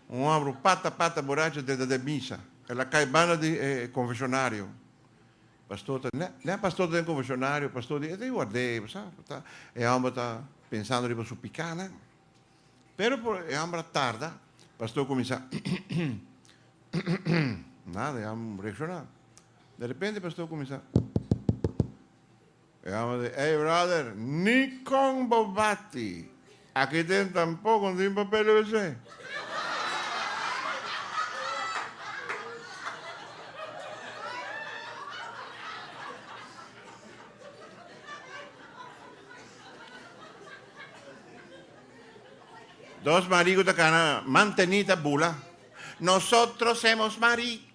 Un homber un pata pata boracho dentro de misa. El a cay banda di e confesionario. Pastor ta, ne, ne pastor ta den confesionario. Pastor di, ete guardé, sa, ta, e homber ta pensando riba su picanan. Pero por e homber a tarda, pastor comienza, nada, e homber reacciona. De repente pastor comienza. E home di, Ey brother, ni con bo bati aki den tampoco tin papel di wc. Dos marico ta cana, Mantenita bula, Nosotros hemos mari.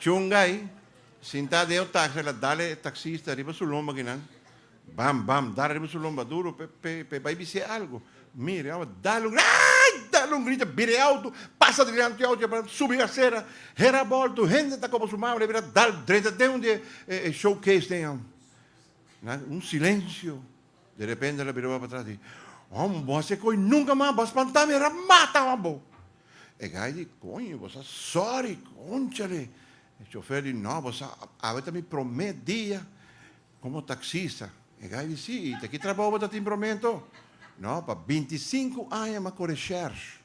Chungai, sintá den e taxi, el a dale e taxista riba su lomba kinan, bam, bam, dale riba su lomba duro pe, pe, pe e bai bis'é algu. Mire awa, dale un grita, aai! Dale un grita, bira e auto, pasa dilanti di e auto, yapará, subi e asera, hera bolto, hende ta koba su mama, lebe ta dal drenta den un di e, e, e showcase den, nan, un silensio. De repente el a bira bo patras di, Hom, bo a hasi e koe nunka mas, bo a spantami, a rap mata wak bo. E guy di, Coño, bo sa sorry, conchale. E chofer di, No, bo sa, awe ta mi prome dia como taxista. E guy di, Sí, y ta ki trabou bo ta tin prometo? No, pa binti sinku aña m'ha kore shers.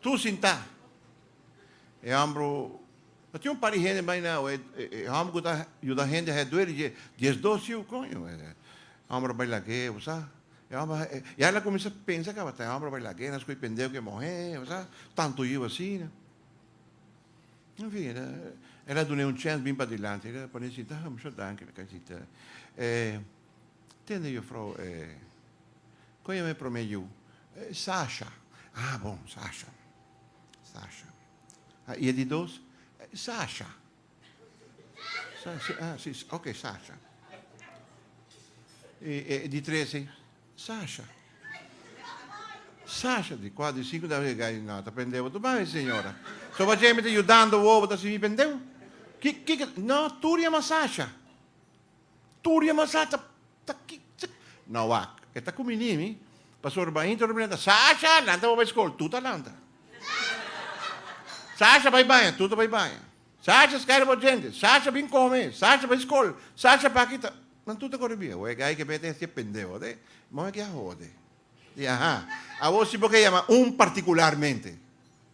Tur sintá. E hòmbru, ta tin un par di hende bai na awa, e hòmbru ku ta yuda hende haya dueri dje, dies dos siu, koño, e hòmbru a bai lag'é, bo sa. E hòmbru, i a la kuminsá pensa tabata, e hòmbru a bai lag'é, nan skoi pendeu ku e mohé, bo sa, tantu yiu asina. En fin, el a dun'é un chèns bin padilanti, el a pon'é sintá, Mishó danki, el a kai sintá. Tende jufrou e kon yama e prome yu? Sasha, Ah bon, Sasha. Sasha, Ah i e di dos? Sasha, Sasha, Ah si, oke Sasha. I e di trese? Sasha, Sasha, di kua? Di sinku? Dave ga no ta pendeu bo tu bai e señora. So bo a jeme ta yudando bo, bo ta sibi pendeu? Ki, kiko, no tur yama Sasha. Tur di e masá ta ta kik tzek. No wak, e ta ku mi nimi. Pastor Bain ta rumi nan ta, Sasha, lanta bo bai skol. Tur ta lanta. Sasha, bai baña. Tur ta bai baña. Sasha, skaira bo djente. Sasha, bin kome. Sasha, bai skol. Sasha, paki ta. Nan tur ta kore bia. Wak e gai ke bete hestia pendeo de. Moe ke a hode. Di, Aha, awor si bo ke yama un partikularmente.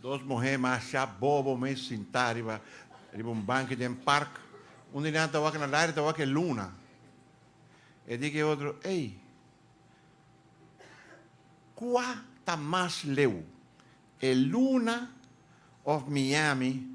Dos muhé mashá bobo mes sintá riba riba un banki den park. Un di nan ta wak na lari ta wak e luna. E di ku e otro, Ey, kua ta mas leu, e luna òf Miami?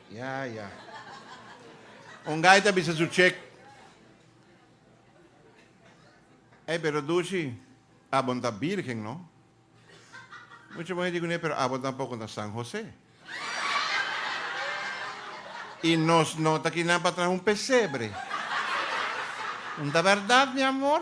Ya, ya. Un guy ta bisa su check. Ey, pero Dushi, abo no ta birgen, no? Mucha muher di cun'e, pero abo tampoco no ta San Jose. Y nos no ta kinan pa traha un pesebre. No ta berdad, mi amor?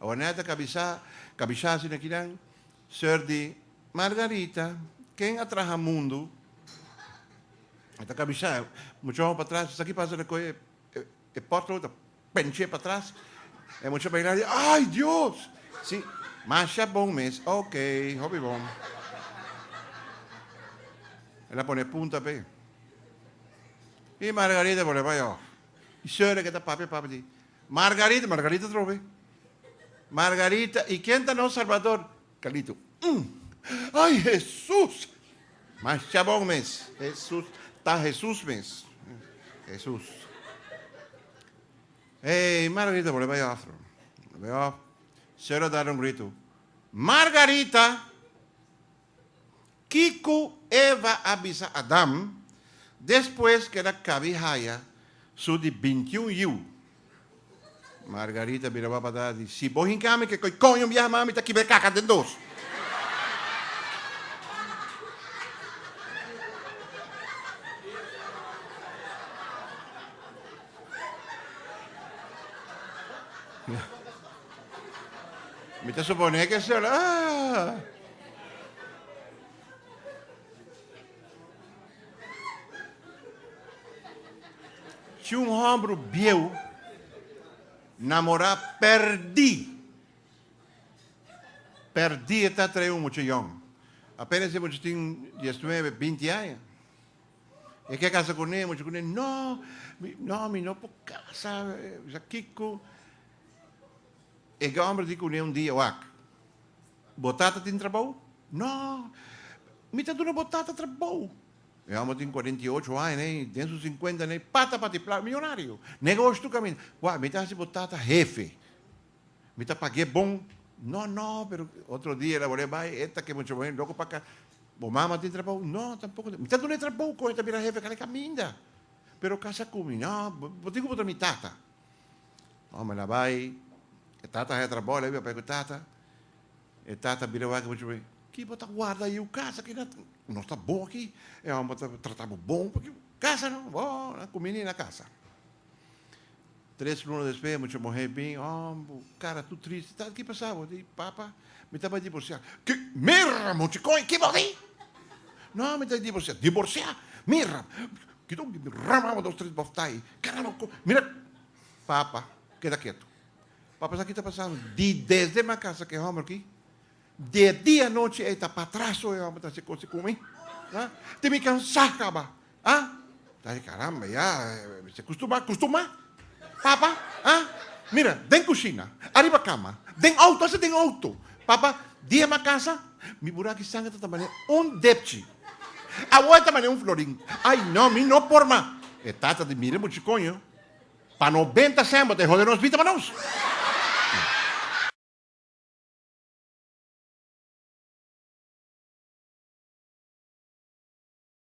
Awa Ned a kabisa, kabisá asina kinan, Sir di, Margarita, ken a traha mundu, e ta kabisá. Mucha hora patras, esaki a pasa ta koe e, e, e pothole ta pench'é patras, e mucha a bainá di, Ay, Dios! Sí, masha bon mes. Ok, hopi bon. El a pone punta p'e. I Margarita a volé bai òf. E señora ke ta papia papia di, Margarita, Margarita trobe, Margarita, i ken ta nos Salbador? Carlito, Um! Ay Hesus! Masha bon mes, Hesus, ta Hesus mes, Hesus. Hey, Margarita bole bay of trobe, bay of. Señora dal un grito, Margarita! Kico Eva a bisa Adam despues cu el a cabi haya su di bintiun yiu? Margarita bira bo abatá a di, Si bo hinca ami ke koe coño biaha mami ta kibra caca den dos. Mi ta suponé cu esel. Si un hombru bieu namorá pèrdí, pèrdí e ta trae un mucha yòn. Apénas e mucha tin diesnuebe, binti aña, e ke kasa kuné, e mucha kuné, No, mi, no, mi no por kasa, bisa kiko. E hombru di kuné un dia, Wak. Bo tata tin trabou? No, mi ta duna bo tata trabou. E omber tin cuarenta y ocho aña ne, y den su cincuenta ne, pata pa tiplak millonario. Negoshi tur caminda. Wak, mi ta haci bo tata hefe. Mi ta pag'é bon. No, no, pero otro dia el a bol'é bai, e ta ke muchacho moe loco pa casa. Bo mama tin trabou? No, tampoco tin. Mi ta dun'é trabou, con e ta bira hefe, kal e caminda. Pero casa cu mi? No, bo tin cu bo ta mi tata. Ome la bai, e tata a hetra bòl ei, papay ku tata. E tata a bira wak bo chupe, Ki bo ta warda ei? Yu kasa ki na ta, no ta bon aki. E ome ta trata bo bon p'aki. Kasa no, bo a kumi ni na kasa. Tres luna despues e mucha muhé bin, Ò, bo kara tur tristi. Tata, ki pasa bo? Di, Papa. Mi ta bai divorciá. Ki, mirra mochi koe, ki body? No, mi ta bai divorciá. Divorciá? Mirra, kico di mi ramaba dos tres boftai. Caramba, ko, mira. Papa, keda ketu. Papa, sa ki ta pasando? Di desde m'a casa ku e homber aki, de dianochi ei ta patraso e homber ta haci cosnan ku mi. Tin mi cansá caba. Ha? Ai caramba, ya se custumá, custumá. Papa, ha? Mira, den cushina, ariba cama, den auto, hasta den auto. Papa, dia m'a casa, mi bura aki sanga ta tamane un depchi. Awor e tamane un florin. Ai no, mi no por mas. E tata di mira buchi coño, pa no benta semba ta e hode nos bita pa nos.